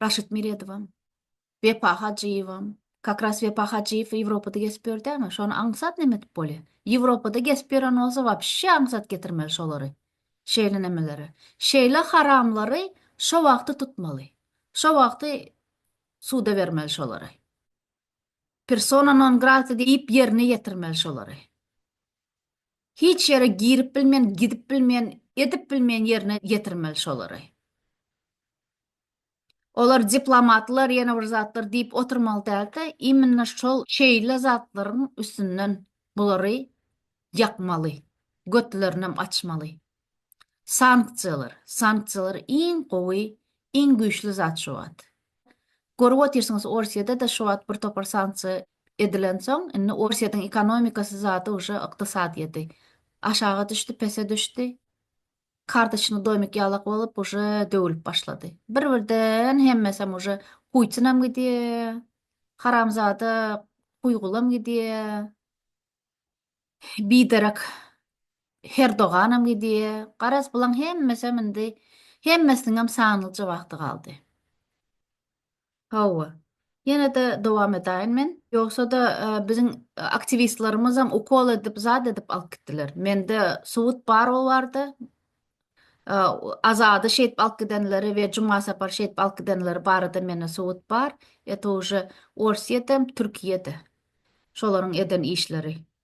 Raşit Meredowam, Wepa Hajyýewem, kak ras Wepa Hajyýew Ýewropada gezip ýör dämi? Şony aňsat neme edip bolýa? Ýewropada gezip ýören bolsa wapşe aňsat getirmeli şolary. Şeýle nemeleri. Şeýle haramlary şo wagty tutmaly. Şo wagty suda bermeli şolary. Persona non grata diýip ýerine ýetirmeli şolary. Hiç ýere girip bilmeýän, gidip bilmeýän, edip bilmeýän ýerine ýetirmeli şolary. Olar diplomatlar ýene bir zatlar diýip oturmaly däldi, immina şol şeýle zatlaryň üstünden bulary ýakmaly, götlerinem açmaly. Sanksiýalar, sanksiýalar iň gowy, iň güýçli zat şu wagt. Görüp otyrsyňyz Orsiýada-da şu wagt bir topar sanksiýa edilensoň, indi Orsiýadyň ekonomikasy zady uje ykdysadyýeti aşaga düşdi, pese düşdi. Kartoçny domik ýalak bolup uje döwülip başlady. Bir birden hemmesem uje Putinam gidýä, haramzada Kuýgulam gidýä, biderek Herdoganam gidýä, garaz bulaň hemmesem indi hemmesiniňem sanlyja wagty galdy. Hawa. Ýene-de dowam edaýin men. Ýogsa-da biziň aktiwistlerimizem ukol edip zat edip alyp gitdiler. Mende subut bar ol barda. Azady şeýdip alyp gidenleri we Juma Sapary şeýdip alyp gidenleri barada mende subut bar. Eto uje Orsýetdem, Türkiýede şolaryň eden işleri.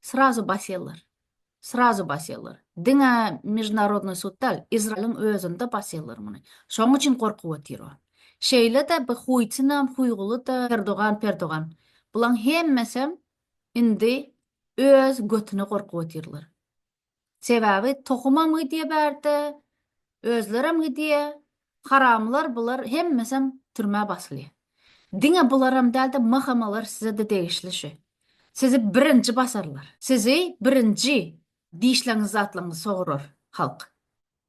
Srazu basýarlar. Srazu basýarlar. Diňe Mežunarodnyý sudda Izraýylyň özünde basýarlar muny. Şoň üçin gorkup otyr o. Şeýle-de bi huýtynam, huýguly da, Erdogan, Perdogan. Bulaň hemmesem indi öz götüne gorkup otyrlar. Sebäbi tohumam gidýär bärde, özlerem gidýär, haramlar bular hemmesem türmä basylýar. Diňe bularam dälde MHM-lar sizede degişli şu. Sizi birinji basarlar. Sizi birinji dişleňizi zatlaňyzy sogurar halk.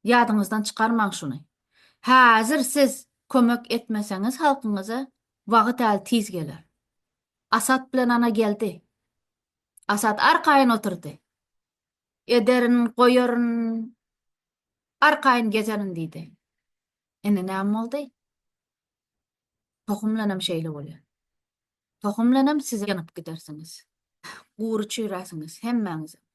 Ýadyňyzdan çykarmaň şuny. Häzir siz kömek etmeseňiz halkyňyza wagyt äl tiz geler. Asat bilen ana geldi. Asat arkaýyn oturdy. Ederin, goýaryn, arkaýyn gezerin diýdi. Indi näme boldy? Tohum bilenem şeýle bolýar. Tohum bilenem siz ýanyp gidersiňiz. Gury çüýräsiňiz hemmäňizem.